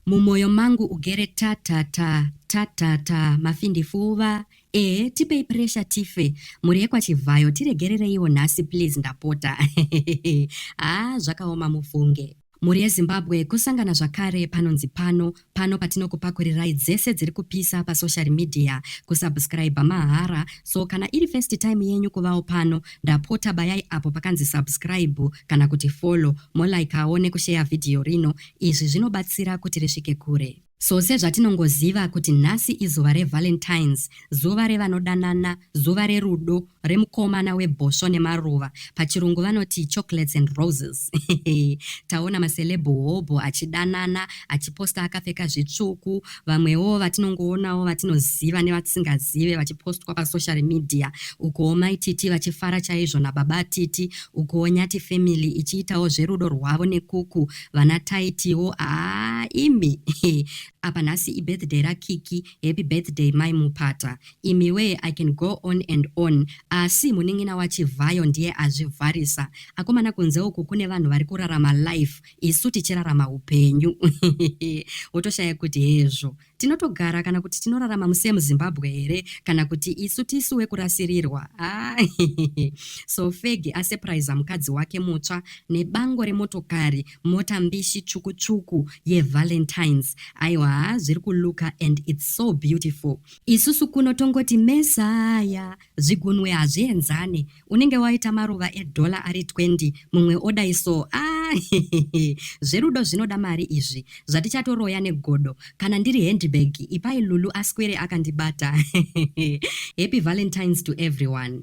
Mumoyo mangu ugere ta ta ta ta ta ta Mafindifuva eeh tipei pressure tife Mhuri yekwa Chivhayo tiregerereiwo nhasi please ndapota haa zvakaoma mufunge. Mhuri yeZimbabwe kusangana zvakare panonzi pano pano patinokupakurirai dzese dziri kupisa pasocial media kusubscriber mahara so kana iri first time yenyu kuvawo pano ndapota bayai apo pakanzi subscribe kana kuti follow molikawo nekusheya video rino Izvi zvinobatsira kuti risvike kure. So sezvatinongoziva kuti nhasi izuva reValentine's, zuva revanodanana, zuva rerudo, remukomana webhosvo nemaruva, pachirungu vanoti chocolates and roses. Taona maceleb hobho achidanana, achiposta akapfeka zvitsvuku, vamwewo vatinongoonawo vatinoziva nevatisingazive vachipostwa pasocial media ukuwo mai titi vachifara chaizvo nababa titi ukuwo nyati family ichiitawo zverudo rwavo nekuku vana taitiwo aa imi apa nhasi ibirthday rakiki happy birthday mai mupata imiwe i can go on and on asi munin'ina wachivhayo ndiye azvivharisa akomana kunze uku kune vanhu vari kurarama life isu tichirarama hupenyu wotoshaya kuti hezvo tinotogara kana kuti tinorarama musemu zimbabwe here kana kuti isu tisu wekurasirirwa ah, so fegi asepraiza mukadzi wake mutsva nebango remotokari mota mbishi tsvuku tsvuku yevalentines aiwa zviri kuluka and its so beautiful isusu kuno tongoti mesaya zvigunwe hazvienzane unenge waita maruva edollar ari 20 mumwe odai so ah zverudo zvinoda mari izvi zvatichatoroya negodo kana ndiri handbag ipai lulu aswere akandibata happy valentines to everyone